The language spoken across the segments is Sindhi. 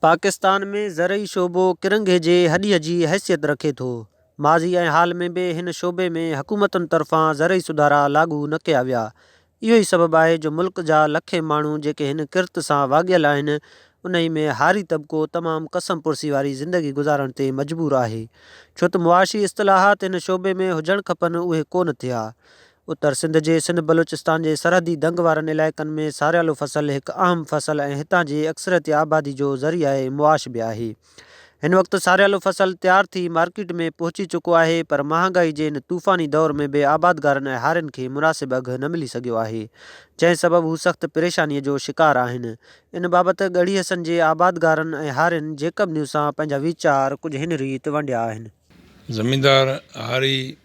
پاڪستان ۾ زرعي شعبو ڪرنگهي جي هڏيء جي حيثيت رکي ٿو. ماضي ۽ حال ۾ به هن شعبي ۾ حڪومتن طرفان زرعي سڌارا لاڳو نه ڪيا ويا. اهو ئي سبب آهي جو ملڪ جا لکين ماڻهو جيڪي هن ڪرت سان واڳيل آهن، انهي ۾ هاري طبقو تمام ڪسم پرسي واري زندگي گذارڻ تي مجبور آهي. ڇو ته معاشي اصطلاحات هن شعبي ۾ هجڻ کپن اهي ڪونه ٿيا. اتر سنڌ جي سنڌ بلوچستان جي سرحدي دنگ وارن علائقن ۾ ساريالو فصل هڪ اهم فصل ۽ هتان جي اڪثريتي آبادي جو ذريعه معاش به آهي. هن وقت ساريالو فصل تيار ٿي مارڪيٽ ۾ پهچي چڪو آهي پر مهانگائي جي هن طوفاني دور ۾ به آبادگارن ۽ هارين کي مناسب اگهه نه ملي سگهيو آهي جنهن سبب هو سخت پريشاني جو شڪار آهن. ان بابت ڳڙهي حسن جي آبادگارن ۽ هارين جيڪب نيوز سان پنهنجا ويچار ڪجهه هن ريت ونڊيا آهن. زميندار هاري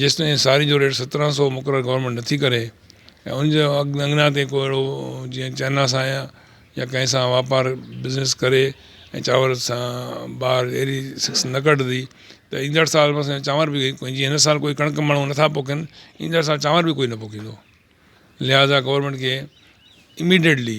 جيستائين ساري جو ريٽ سترهن سؤ مقرر گورنمينٽ نه ٿي ڪري ۽ ان جي اڳيان تي ڪو اهڙو جيئن چائنا سان يا يا ڪنهن سان واپار بزنس ڪري ۽ چانور سان ٻاهر اهڙي سڪس نه ڪڍندي ته ايندڙ سال بس ۽ چانور بي ڪو جي هن سال ڪوئي ڪڻڪ ماڻهو نه ٿا پوکين ايندڙ سال چانور بي ڪوئي نه پوکيندو لهٰذا گورنمينٽ کي اميڊيٽلي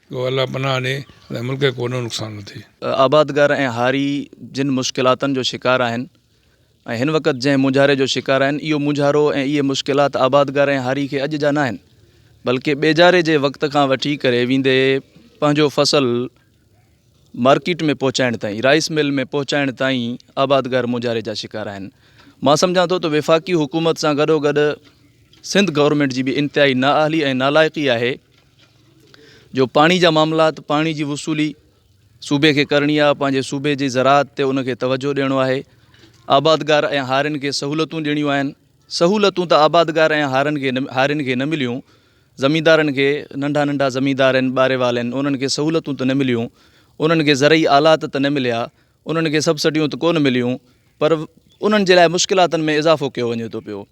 جو الله پناهه ڏي ۽ ملڪ کي ڪو نئون نقصان نه ٿئي. آبادگار ۽ هاري جن مشڪلاتن جو شڪار آهن ۽ هن وقت جنهن مونجهاري جو شڪار آهن اهو مونجهارو ۽ اهي مشڪلات آبادگار ۽ هاري کي اڄ جا ناهن بلڪه ٻيجاري جي وقت کان وٺي ڪري ويندي پنهنجو فصل مارڪيٽ ۾ پهچائڻ تائين رائيس مل ۾ پهچائڻ تائين آبادگار مونجهاري جا شڪار آهن مان سمجهان ٿو ته وفاقي حڪومت سان گڏو گڏ سنڌ گورنمينٽ جي به انتهائي نااهلي ۽ نالائقي آهي جو پاڻي جا معاملات پاڻي جي وصولي صوبي کي ڪرڻي آ پنهنجي صوبي جي زراعت تي ان کي توجهه ڏيڻو آهي آبادگار ۽ هارين کي سهولتون ڏيڻيون آهن سهولتون ته آبادگار ۽ هارن کي هارين کي نه مليون زميندارن کي ننڍا ننڍا زميندار آهن ٻاري وال آهن انهن کي سهولتون ته نه مليون انهن کي زرعي آلات ته نه مليا انهن کي سبسڊيون ته ڪونه مليون پر انهن جي لاء مشڪلاتن ۾ اضافو ڪيو وڃي ٿو پيو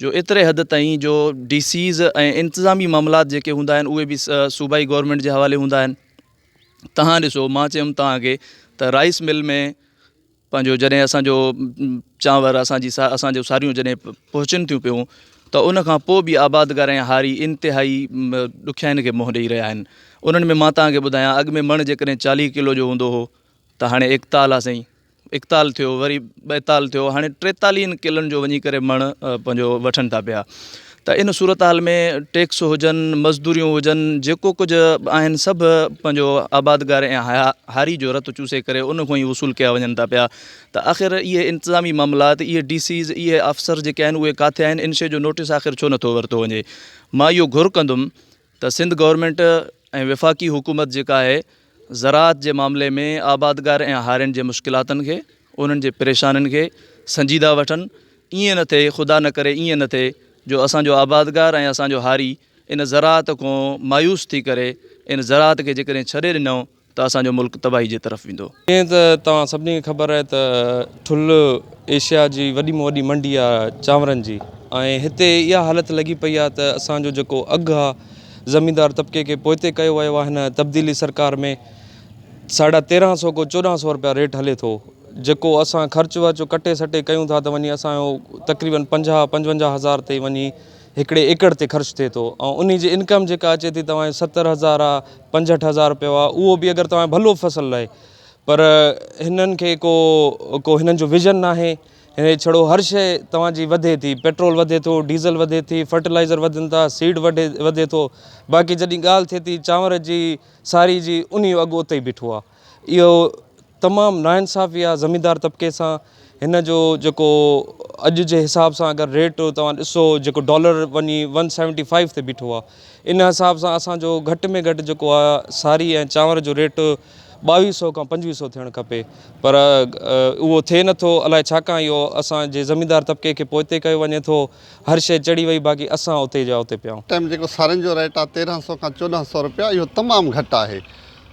جو ايتري حد تائين جو ڊي سيز ۽ انتظامي معاملات جيڪي هوندا آهن اهي به صوبائي گورنمينٽ جي حوالي هوندا آهن تهان ڏسو مان چيم تهان کي ته رائس مل ۾ پنهنجو جڏهن اسانجو چانور اسانجي اسانجو ساريون جڏهن پهچن ٿيون پيون ته ان کان پوء به آبادگار ۽ هاري انتهائي ڏکيائين کي منهن ڏيئي رهيا آهن انهن ۾ مان تهان کي ٻڌايان اڳ ۾ مڻ جيڪڏهن چاليهه ڪلو جو هوندو هو ته هاڻي ايڪتال آهي سائين ايڪتال ٿيو وري ٻائيتال ٿيو هاڻي ٽيتاليهن ڪلن جو وڃي ڪري مڻ پنهنجو وٺن ٿا پيا ته ان صورتحال ۾ ٽيڪس هجن مزدوريون هجن جيڪو ڪجهه آهن سڀ پنهنجو آبادگار ۽ هاري جو رت چوسي ڪري ان کان ئي وصول ڪيا وڃن ٿا پيا ته آخر اهي انتظامي معاملات اهي ڊي سيز اهي آفسر جيڪي آهن اهي ڪاٿي آهن ان شي جو نوٽس آخر ڇو نٿو ورتو وڃي مان اهو گهر ڪندم ته سنڌ گورنمينٽ ۽ وفاقي حڪومت جيڪا آهي زراعت جي معاملي ۾ آبادگار ۽ هارين جي مشڪلاتن کي انهن جي پريشانين کي سنجيده وٺن ائين نه ٿئي خدا نه ڪري ائين نه ٿئي جو اسان جو آبادگار ۽ اسان جو هاري ان زراعت کون مايوس ٿي ڪري ان زراعت کي جيڪڏهن ڇڏي ڏنو ته اسان جو ملڪ تباهي جي طرف ويندو. جيئن ته توهان سڀني کي خبر آهي ته ٺل ايشيا جي وڏي ۾ وڏي منڊي آهي چانورن جي ۽ هتي اها حالت لڳي پئي آهي ته اسان جو جيڪو اگهه آهي زميندار طبقي کي پوئتي ڪيو ويو آهي هن تبديلي سرڪار ۾ ساڍا تيرهن سو ڪو چوڏهن سو رپيا ريٽ هلي ٿو جيڪو اسان خرچ ورچ ڪٽي سٽي ڪيون ٿا ته وڃي اسان جو تقريبن پنجاهه پنجونجاهه هزار تائين وڃي هڪڙي ايڪڙ تي خرچ ٿئي ٿو ۽ انهي جي انڪم جيڪا اچي ٿي توهان جي ستر هزار آ پنجهٺ هزار رپيو آ اهو به اگر توهان ڀلو فصل لهي پر هنن کي ڪو ڪو هنن جو ويزن ناهي هي ڇڙو هر شئي توهان جي وڌي ٿي پيٽرول وڌي ٿو ڊيزل وڌي ٿي فرٽلائزر وڌن ٿا سيڊ وڌي وڌي ٿو باقي جڏهن ڳالهه ٿئي ٿي چانور جي ساري جي انهي جو اگهه اتي بيٺو آ اهو تمام ناانصافي آهي زميندار طبقي سان هن جو جيڪو اڄ جي حساب سان اگر ريٽ توهان ڏسو جيڪو ڊالر وڃي ون سيونٽي فائيو تي بيٺو آهي ان حساب سان اسانجو گهٽ ۾ گهٽ جيڪو آهي ساري ۽ چانور جو ريٽ ٻاويهه سو کان پنجويهه سو ٿيڻ کپي پر اهو ٿئي نٿو الاء ڇاڪان اهو اسانجي زميندار طبقي کي پوئتي ڪيو وڃي ٿو هر شي چڙهي وئي باقي اسان اتي جا اتي پيا آهيون. ٽائيم جيڪو سارين جو ريٽ آهي تيرهن سو کان چوڏهن سو روپيا اهو تمام گهٽ آهي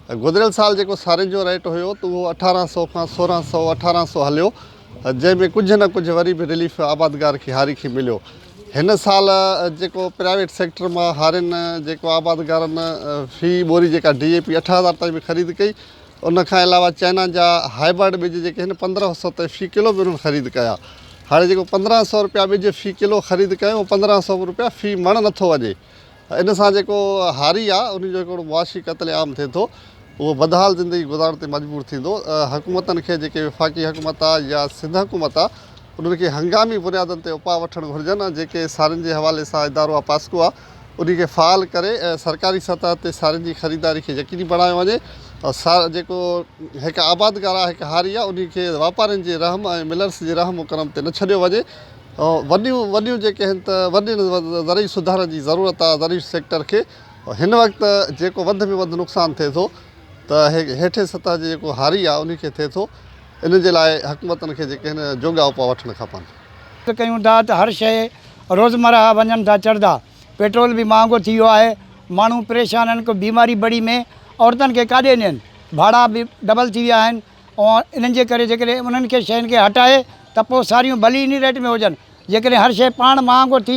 گذريل سال جيڪو سارين جو ريٽ هيو ته اهو اٺارهن سئو کان سورهن سئو اٺارهن سئو هليو جنهن ۾ ڪجهه نه ڪجهه وري به رليف آبادگار کي هاري کي مليو هن سال جيڪو پرائيويٽ سيڪٽر مان هارين جيڪو آبادگارن في ٻوري جيڪا ڊي اي پي اٺ هزار تائين به خريد ڪئي ان کان علاوه چائنا جا هائبرڊ ٻج جيڪي هن پندرهن سئو تائين في ڪلو به انهن خريد ڪيا هاڻي جيڪو پندرهن سئو روپيا ٻج في ڪلو خريد ڪيو اهو پندرهن سئو روپيا في مڻ نٿو وڃي ان سان جيڪو هاري آهي ان جو هڪڙو معاشي قتل عام ٿئي ٿو اهو بدحال زندگي گذارڻ تي مجبور ٿيندو حڪومتن کي جيڪي وفاقي حڪومت آهي يا سنڌ حڪومت آهي انهن کي هنگامي بنيادن تي اپاء وٺڻ گهرجن ۽ جيڪي سارين جي حوالي سان ادارو آهي پاسڪو آهي انهي کي فعال ڪري سرڪاري سطح تي سارين جي خريداري کي يقيني بڻايو وڃي ۽ سار جيڪو هڪ آبادگار آهي هڪ هاري آهي انهي کي واپارين جي رحم ۽ ملرس جي رحم و ڪرم تي نه ڇڏيو وڃي وڏيون وڏيون جيڪي آهن ته وڏي زرعي سڌارن جي ضرورت آهي زرعي سيڪٽر کي هن وقت جيڪو وڌ ۾ وڌ نقصان ٿئي ٿو ته هيٺين سطح جي جيڪو هاري آهي ان کي ٿئي ٿو ان جي لاء حڪومتن کي جيڪي آهن جوڳا اپاء وٺڻ کپن. ڪيون ٿا ته هر شيء روزمرهه وڃن ٿا چڙهدا پيٽرول به مهانگو ٿي ويو آهي ماڻهو پريشان آهن ڪو بيماري بڙي ۾ عورتن کي ڪاڏي نين ڀاڙا به ڊبل ٿي ويا آهن اوهان انهن جي ڪري جيڪڏهن انهن کي شين کي هٽائي ته پوء ساريون ڀلي انهي ريٽ ۾ هجن جيڪڏهن هر شي پاڻ مهانگو ٿي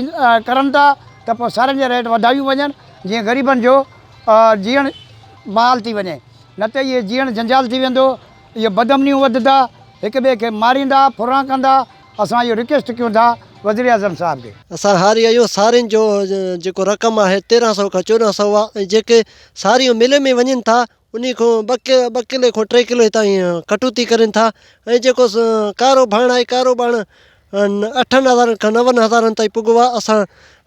ڪرن ٿا ته پوء سارين جا ريٽ وڌايون وڃن جيئن غريبن جو جيئڻ محال ٿي وڃي نه ته اهي جيئڻ جنجال ٿي ويندو اهي بدامنيون وڌندا هڪ ٻئي کي ماريندا ڦرهان ڪندا اسان اهو رڪويسٽ ڪيون ٿا وزيراعظم صاحب کي. اسان هاري آهيون سارين جو جيڪو رقم آهي تيرهن سئو کان چوڏهن سئو آهي ۽ جيڪي ساريون ملين ۾ وڃن ٿا انهي کان ٻه ڪلي کان ٽي ڪلو هتان جي ڪٽوتي ڪرين ٿا ۽ جيڪو ڪارو ڀاڻ آهي ڪارو ڀاڻ اٺن هزارن کان نون هزارن تائين پڳو آهي اسان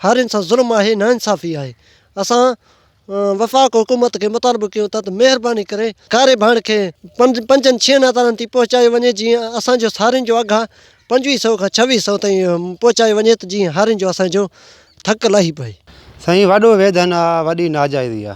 هارين سان ظلم آهي نا انصافي آهي اسان وفاق حڪومت کي مطالبو ڪيون ٿا ته مهرباني ڪري ڪاري ڀاڻ کي پنجن ڇهن هزارن تائين پهچايو وڃي جيئن اسان جو هارين جو اگهه آهي پنجويهه سئو کان ڇويهه سئو تائين پهچايو وڃي ته جيئن هارين جو اسان جو ٿڪ لاهي پئي. سائين وڏو ويڌن آ وڏي ناجائزي آ.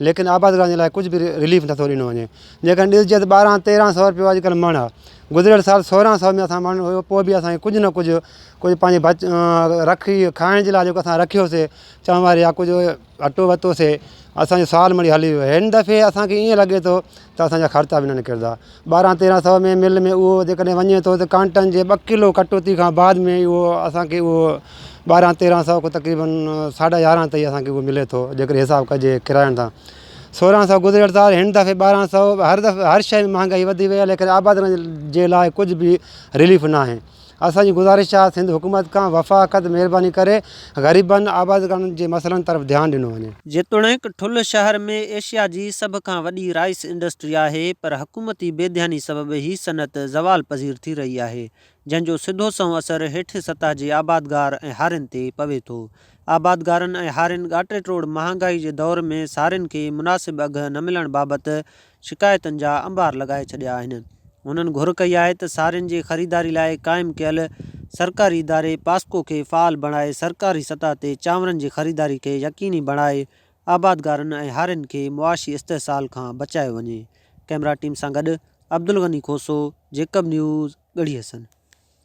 ليڪن آبادگارن جي لاء ڪجهه به رليف نٿو ڏنو وڃي جيڪڏهن ڏسجي ته ٻارهن تيرهن سئو رپيو اڄڪلهه مڻ آهي گذريل سال سورهن سئو ۾ اسان مڻ هيو پوء به اسان کي ڪجهه نه ڪجهه ڪجهه پنهنجي بچ رکي کائڻ جي لاء جيڪو اسان رکيوسي چؤواري يا ڪجهه اٽو ورتوسي اسانجو سال مڙئي هلي ويو هن دفعي اسانکي ائين لڳي ٿو ته اسان جا خرچا به نه نڪرندا. ٻارهن تيرهن سئو ۾ مل ۾ اهو جيڪڏهن وڃي ٿو ته ڪانٽن جي ٻه ڪلو ڪٽوتي کان بعد ۾ ئي اهو اسان کي اهو ٻارهن تيرهن سئو کان تقريبن ساڍا يارهن تائين اسان کي اهو ملي ٿو جيڪڏهن حساب ڪجي ڪراين تان سورهن سئو گذريل سال هن دفعي ٻارهن سئو هر دفعي هر شي ۾ مهانگائي وڌي وئي آهي ليڪن آبادڻ جي لاء ڪجهه به رليف ناهي اسان جي گذارش آهي سنڌ حڪومت کان وفاقت مهرباني ڪري غريبن آبادگارن جي مسئلن طرف ڌيان ڏنو وڃي. جيتوڻيڪ ٺل شهر ۾ ايشيا جي سڀ کان وڏي رائس انڊسٽري آهي پر حڪومتي بي ڌياني سبب هي صنعت زوال پذير ٿي رهي آهي جنهن جو سڌو سنئون اثر هيٺين سطح جي آبادگار ۽ هارين تي پوي ٿو آبادگارن ۽ هارين ڳاٽيٽوڙ مهانگائي جي دور ۾ سارين کي مناسب اگهه نه ملڻ بابت شڪايتن جا انبار لڳائي ڇڏيا آهن. هنن گهر ڪئي آهي ته سارين جي خريداري لاء قائم ڪيل سرڪاري اداري پاسڪو کي فعال بڻائي سرڪاري سطح تي چانورن جي خريداري کي يقيني بڻائي آبادگارن ۽ هارين کي معاشي استحصال کان بچايو وڃي. ڪئميرا ٽيم سان گڏ عبدالغني کوسو، جيڪب نيوز، ڳڙهي حسن.